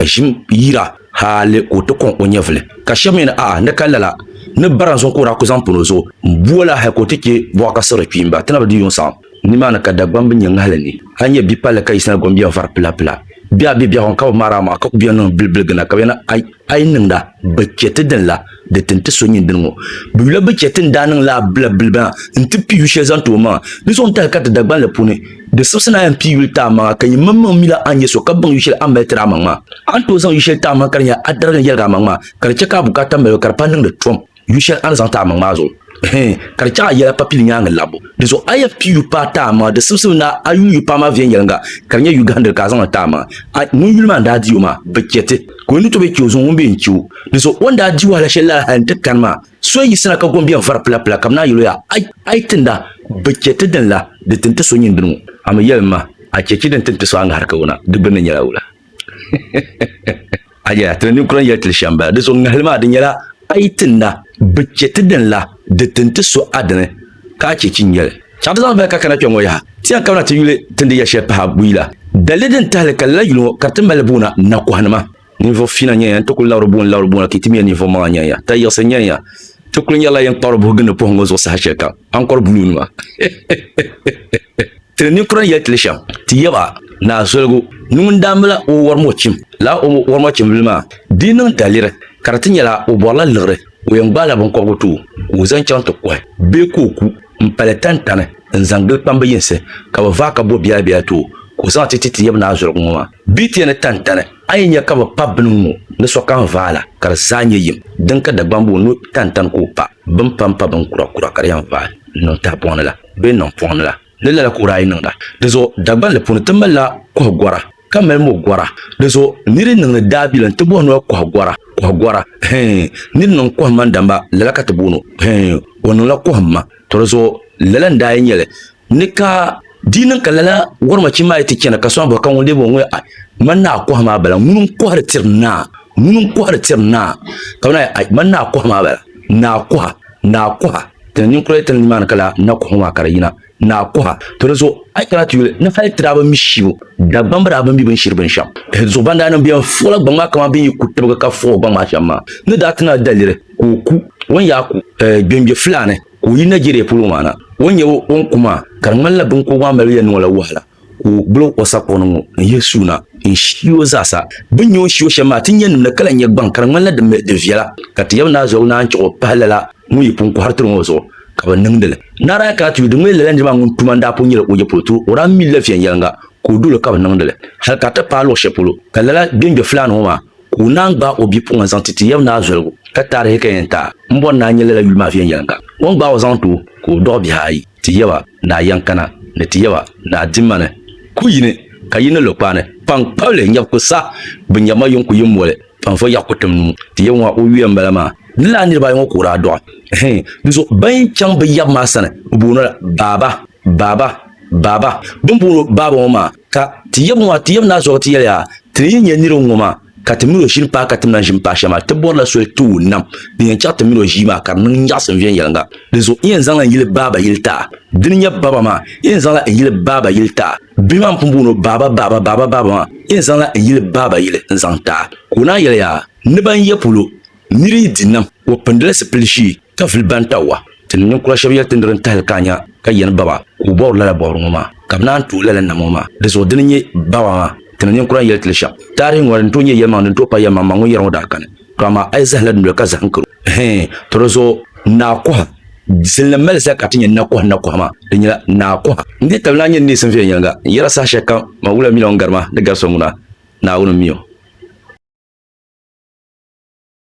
ʒim yira hali ka o ti kɔŋ o nyɛvili. Ka shɛb mi ni, A'a, n ni kani lala ni barinzuŋ ka o daa ku zaŋ pun o zuɣu bo la hali ka o ti chɛ bɔɣa ka siɣiri kpiimba, ti na bi di yuŋ saɣim. Nimaani ka Dagbam bi nyɛ ŋahili ni a nya bi palli ka yiɣisina gom biɛɣu vari pila pila. Biɛɣu be biɛɣu ni ka bi maari a maɣa ka ku beni niŋ bilibiligina ka bɛ ni a yi niŋda bi chɛ ti din la. di tin ti so nyini dini ŋɔ. Bɛ yula bɛ chɛ ti ni daa niŋ laa bila biliba maa nti pii yu shɛli zaŋ ti o maŋa. Di zuɣu n-tahi ka ti Dagbaŋ la puuni di sibisi ni a yɛn pii yuli ti a maŋa ka yimaŋmaŋ mi la a ni nyɛ so ka baŋ yu shɛli a ni mali tiri amaŋ maa. A ni tooi zaŋ yu shɛli ti amaŋ ka di nyɛla a darigi ni yɛligi amaŋ maa ka di chɛ ka a bukaata mali o ka di pa niŋdi tom yu shɛli a ni zaŋ ti amaŋ maa zuɣu. ka di chaŋ a yɛla papili nyaŋ labu di zuɣu a yɛn kpi yu paai taai maŋa di simsim ni a yuui yu paai maa viɛnyɛlinga ka di nyɛ yu gahandili ka a zaŋli taai maŋa a ŋun yuli maa n daa di o maa bi chɛ ti ka o ni tooi chɛ o zuŋɔ ŋun bee n chɛ o di zuɣu o ni daa di wahala shɛli lala hali n ti kani maa so n yiɣisina ka gombiɛŋ vari pila pila ka bi naan yɛl o yaa ai ai tinda bi chɛ ti din la di tin ti so nyin dini ŋɔ a mi yɛli n ma a chɛ chɛ din tin ti so a ŋahiri ka o na di gbinni nyɛla wula Aja ti ninkura n yɛli tili shɛm bala di zuɣu ŋahili maa di nyɛla a yi ti na bi chɛ ti dini la di tin ti so a dini ka a chɛ chi nyɛli chaŋ ti zaŋ vali ka kana kpɛŋŋo yaha ti yɛn kabina ti yuli ti ni di yɛli shɛli pahi buyi la dalili din tahali ka lala yuli ŋo ka ti mali buuna nakɔhanima ninvuɣu fiina nyɛya n ti kuli labiri buuni labiri buuna ka yi ti mi ya ninvuɣu maŋa nyɛya ta yiɣisi nyɛya ti kuli nyɛrila yɛn kpabiri buhi gindi puhi ŋo zuɣu saha shɛli kam ankɔri buluunima Tili ninkura n-yɛli tili shɛm, ti yaba, Naa Zoligu, ni ŋun daa mila o wɔrmɔchim laa o wɔrmɔchimbili maa, di yi niŋ daliri ka di ti nyɛla o bɔrila liɣiri, o yɛn gbaai la binkɔbigu ti o ka o zaŋ chaŋ ti kɔhi bee ka o ku m-pali tantani n-zaŋ gili kpambi yinsi ka bɛ vaai ka bo biɛlabiɛla ti o ka o zaŋ ti ti ti yab Naa Zoligu ŋɔ maa. Bɛ yi ti yɛn ni tantani A yi nya ka bɛ pa bini ŋ-ŋɔ ni sokam vaai la, ka di zaa nyɛ yim. Din ka Dagbamb o nuu tantani ka o pa bini pam pa bin kura kura ka di yɛn vaai n-niŋ tahipɔŋ ni la bee niŋ pɔŋ ni la, ni lala ka o daa yi niŋda. Dizuɣu Dagbanli puuni ti mali la kɔhi gɔra, ka mali mo gɔra. Dizuɣu nir yi niŋdi daabilim ti bɔhi noya kɔhi gɔra, kɔhi gɔra. Hee, nir niŋ kɔhimma n-damba, lala ka ti booni o. Hee, o niŋla kɔhimma. To dizuɣu lala n-daa yi nyɛli Ni ka di niŋ ka lala wɔrmachi maa yi ti chana ka sɔŋ bɔhi ka ŋun lebi o ŋɔ a man naa kɔhi maa bala ŋuni n kɔhiri tiri naa ŋuni n kɔhiri tiri naa ka man a man naa kɔhi maa bala naa kɔha naa kɔha ti ni ninkura yi ti ni nimaani ka lala na kɔhi ŋɔ maa ka di yina naa kɔha to di zuɣu a yi kana ti yuli ni hali tira bin mi shibu dagbam bi daa bin mi bin shiri bin shɛm di zuɣu ban daa niŋ bɛn fuɣila gbaŋ maa kamani bin yi ku tibigi ka fuɣi gbaŋ maa shɛm maa ni daa ti na daliri ka o ku wan yaa ku gbɛngbɛ fulaani Ka o yi Nigeria polo ŋɔ na, o ni nyɛ o ni ku maa ka di ŋmanila biŋkɔbigu maa mali yɛn niŋ o la wahala ka o gbulig o sakuɣu ni ŋɔ n-yihi suuna n-shii o zaasa. Bɛ ni nyɛ o ni shii o shɛm maa ti nyɛnnim ni ka lahi nyɛ gbaŋ ka di ŋmanila di mi di viɛla ka Tijab Naa Zɔligu Naa n-chiɣ o pahi lala ŋun yi pun kɔhiri tiri ŋɔ zuɣu ka bɛ niŋdi li. Naa daa kana ti yu di ŋmani lala niri maa ŋun tuma n-daa pun nyɛla Oje polo tiri o daa mi li la viɛnyɛliŋga ka o doli ka bɛ niŋdi li hal ka a ti paai luɣ shɛli polo ka lala bɛn be Fulani ŋɔ maa Ka o naan gbaai o bipuɣin zaŋ ti ti Yɛb naa zoligu, ka taarihi ka yɛn taai m bɔri ni a nyɛla lala yuli maa viɛnyɛliŋga. O ni gbaai o zaŋ ti o, ka o dɔɣi bihi ayi, Ti Yɛba, Naa Yɛnkana, ni Ti Yɛba, Naa Dimani. Ku yi ni, ka yi ni lo kpaani, kpaŋkpabili nyɛbu ku sa bɛ nyɛbu ma yiŋ ku yi moli n vo yaɣi ku tim nuu. Ti Yɛba ŋɔ o yuya m-bala maa. Di lala niriba ayi ŋɔ ka o daa dɔɣi. Hii. Di zuɣu ban yi chaŋ bɛ Yɛb maa sani, bɛ booni o la, Baaba, Baaba, Baaba. Bɛ ni booni o Baaba ŋɔ maa, Ka ti yab ŋɔ, ti yab naa zuɣu ti yɛli a, Ti ni yi nya nir ŋɔ maa, ka ti mil o ʒini paai ka ti lan ʒini paai shɛli maa, ti bɔrila soli ti o nam din yɛn chɛɣi ti mil o ʒii maa ka di niŋ nyaɣisim viɛnyɛliŋga. Dinzuɣu n yɛn zaŋla n yili baaba yili ti a. Di ni nya baba maa, n yɛn zaŋla n yili baaba yili ti a. Bia maa n pun booni o baaba, baaba, baaba, baaba maa, n yɛn zaŋla n yili baaba yili n-zaŋ ti a. Ka o naa yɛli a, Ni ba n-ya polo, nir yi di nam, o pindila sipil ʒee. Tafli Bantawa tinim ninkura shɛb yɛli ti nir n-tahili ka a nya ka yɛn ba ba ka o bɔbiri lala bɔbiri ŋɔ maa, ka bɛ naan tuhi lala nam ŋɔ maa. Di zuɣu di ni nyɛ ba ba maa tinim ninkura n-yɛli ti li shɛm. Taarihi ŋɔ di ni tooi nyɛ yɛlimaŋli din tooi pa yɛlimaŋmaŋ ŋun yɛri ŋɔ daa kani, to amaa a yi zahila di noli ka zahim karo, hɛɛn, to di zuɣu Naa Kɔha, Silnim mali zali ka ti nyɛ Nakɔha Nakɔha maa di nyɛla Naa Kɔha. N dii tabili naa nyini neesim viɛnyɛliŋga, n yɛra saha shɛli kam man wula mi la o ni gari ma ni gari so ŋuna, Naawuni m-mi o.